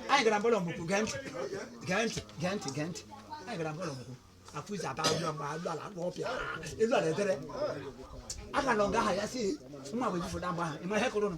anyị gara mbọlọ mụkwụ gee ntị gee ntị gee ntị gee ntị anyị gara mbọlọ mụkwụ afọ izi aba ụlọ mgbe alụ ala akpọ ọpịa elu ala edere aka na ọga aha ya si nwa bụ ebufoda mgbe ahụ ịma ihe kụrụ nụ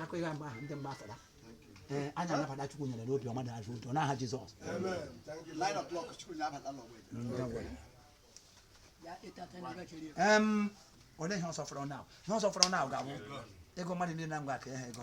akụ ihe mgbe ahụ ndị mgbe afọda ee anya anabata chukwu nyere n'obi ọma na azụ ụjọ n'aha jizọs Nine o'clock, chukwu na-abata n'ọgbọ. em olee ihe ọzọ fọrọ na ihe ọzọ fọrọ na ga-abụ ego mmadụ niile na ngwa ka ihe ego